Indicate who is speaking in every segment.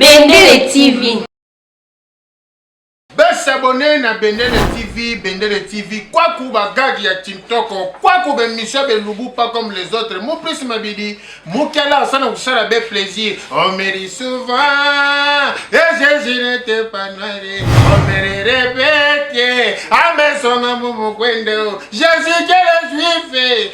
Speaker 1: Bendele TV.
Speaker 2: Besabone na Bendele TV, Bendele TV, kwaku bagagi ya Tintoko, kwaku bemisio belubu pas comme les autres. Mon plus mabidi, mukela asana kusala be plaisir. On me dit souvent, et Jésus n'était pas noir, on me le répète, à mes sons, à mon Jésus, quel juif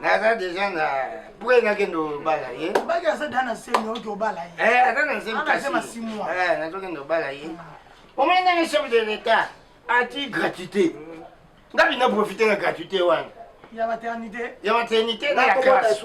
Speaker 3: naza deja na pre nakende obala ye baki aza da na
Speaker 4: semi oki obala ye eh, aza na semi
Speaker 3: kasi eh, nazokende obala ye omoni ndenge chef de l'état ati gratuité nga bina profite na gratuité wana ya maternité
Speaker 4: ya maternité na
Speaker 3: ya classe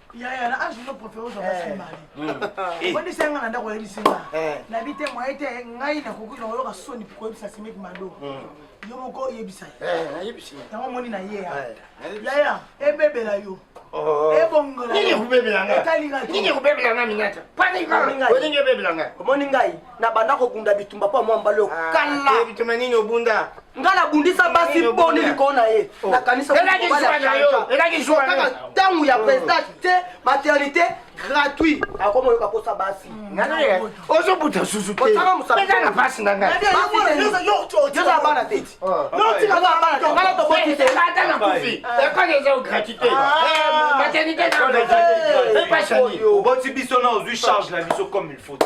Speaker 4: yaya na age no profere ozwa basi eh. mali hmm. obondisi yanga na ndako oyebisi nga eh. nabi te moye te ngai nakoki na oyoka soni koyebisa simiki mado hmm. yo moko oyebisa eh, yango
Speaker 3: omoni na ye
Speaker 4: yaya ebebela yo oh. ebongola
Speaker 3: etali ngai omoni ngai na
Speaker 4: banda kobunda bitumba mpo mwa mbala oyo ah, kala bitumba nini
Speaker 3: obunda nga nabundisa
Speaker 4: basi boni likolo na ye oh. nakanisakaka
Speaker 3: ntango ya president
Speaker 4: te maternité gratuit akoma oyoka mposa basi
Speaker 3: ozobuta susu teozala mpasi na ngaiozala
Speaker 4: bana te
Speaker 3: ngana toboti te ata na kufi ekole eza gratuit te maternité oboti biso na ozwi
Speaker 5: charge na biso comme il faut te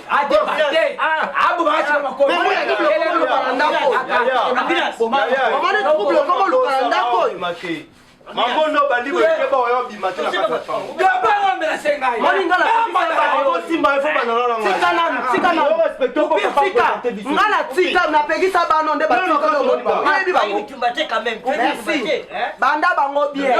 Speaker 5: mangondo bandi koyeba
Speaker 6: oyo
Speaker 5: abima
Speaker 4: te nga na tika napekisa bano nde bayebi bango banda bango bien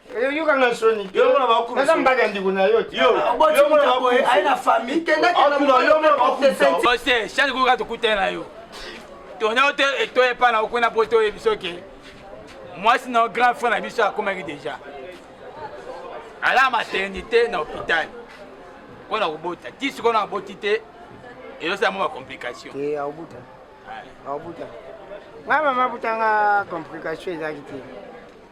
Speaker 4: yoka nga
Speaker 6: soni naza mbaka ndiko na yo change koyoka tokutani na yo tona yo te eto epa na okuna po toyebi soki mwasi na grand frère na biso akomaki déjà ala maternité na hôpital mpo na kobota ti sikoyo na aboti te ezosala mwa bacomplication aobuta
Speaker 3: aobuta ngai mama abutanga complication ezalaki te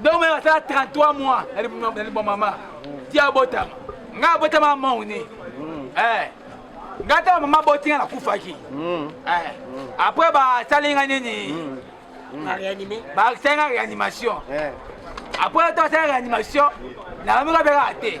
Speaker 6: donc meme asala 33 mois na libwa mama ti abotama ngai abotama mauni ngai ntango mama aboti ngai nakufaki après basali ngai nini basali ngai réanimation après ntango asali réanimation nayomi kabekaka te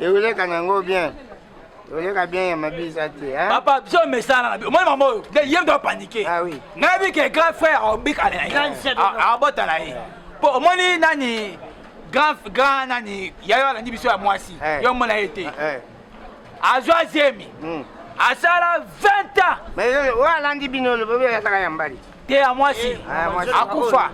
Speaker 3: Euleka na yango bien. Euleka bien ya mabisa te hein. Papa biso mesana na
Speaker 6: biso. Mwana mama oyo nde ye mto apanike. Ah oui. Na bi ke
Speaker 3: grand frère
Speaker 6: obik ale na ye. Abota na ye. Po omoni nani grand grand nani yayo alandi biso ya mwasi. Eh. Yo mona ye te. Eh. Azwa zemi. Hmm. Asala 20 ans. Mais oyo alandi
Speaker 3: bino lobobi azaka ya mbali. te ya mwasi
Speaker 6: eh, akufa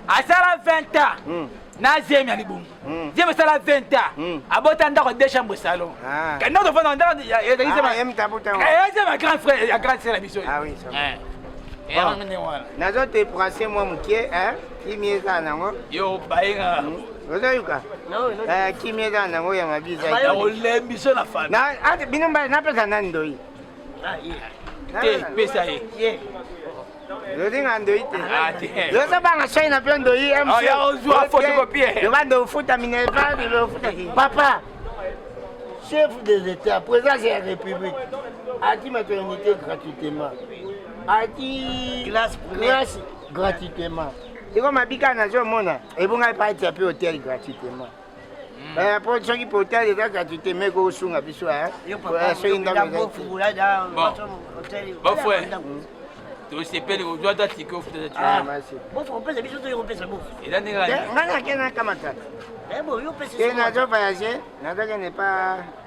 Speaker 6: asala 20 ans hmm. na zemi ya libongo hmm. zemi esala 20 ans hmm. abota ndako de chambre salon ah. kende tofanda ndako ezali zemi ah,
Speaker 3: eh, ya grand frère
Speaker 6: ya grande sœur na biso ah eh.
Speaker 3: nazo te prase mwa moke kimi eza nango yo bayenga ozoyoka
Speaker 1: kimi eza
Speaker 3: nango ya mabiza
Speaker 6: bino mbai
Speaker 3: napesa nani ndoi
Speaker 1: te
Speaker 6: pesa
Speaker 3: ye lozinga ndoyi te ah, lozobanga
Speaker 6: shai na mpe
Speaker 3: ndoyi mozwa
Speaker 6: photocopie loba ndo
Speaker 3: ofuta minerval lofuta papa chef de l'état présence ya république ati maternité gratuitement
Speaker 1: ati
Speaker 3: classe gratuitement ekoma bika nazomona ebongai paatia mpe hotel gratuitement mpo soki potale kaka tuteme kosunga biso soki ndako
Speaker 6: tosepeli kozwa ata tiko futaelandi
Speaker 1: ngai
Speaker 6: nake nakamatata
Speaker 1: te nazo voyage
Speaker 3: nazokende pa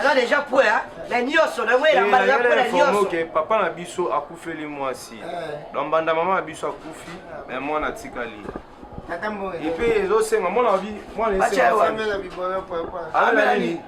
Speaker 1: aza deja pue na nyonso na yango elamba eza pue na nyonso papa na biso
Speaker 5: akufeli mwasi na mbanda mama na biso akufi me mwana atikali epe ezosenga mwana wabi mwana esenga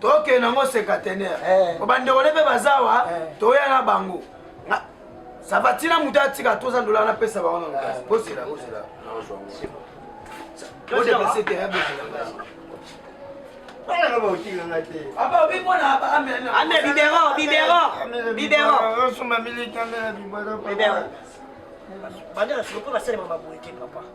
Speaker 4: toke nango sekatener eh. po bandeko ne mpe baza wa eh. toya na bango sava ntina moto atika toza ndola napesa bango na lokasi eh. bosela bosela odepase te bosela bibero bibero
Speaker 3: bibero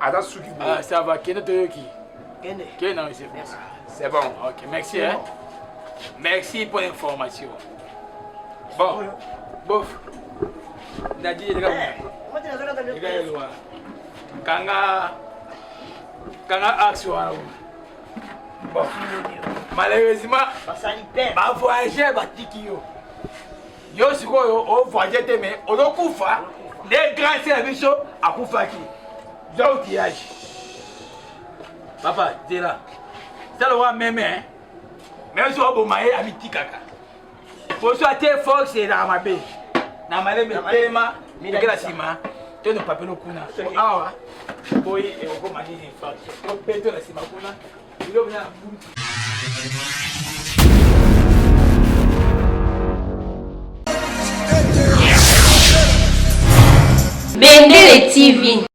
Speaker 7: aza suki boye ah, ça va kende
Speaker 6: toyoki kende kende
Speaker 1: na monsieur merci
Speaker 6: c'est bon ok
Speaker 7: merci hein
Speaker 6: merci pour l'information bon bof ndadi yeleka yeleka
Speaker 1: yelwa
Speaker 6: kanga kanga axe wana bon malheureusement
Speaker 1: bavoyageur
Speaker 6: batiki yo yo sikoyo ovoyage te me ozokufa nde grâce ya biso akufaki za outillage papa zela sala wa meme meme so oboma ye amitikaka poso ate fox elaka mabe na malembe tema ekela nsima teno papelo kuna awa boyi ekokoma nini mpe to na nsima kuna
Speaker 8: Bendele TV.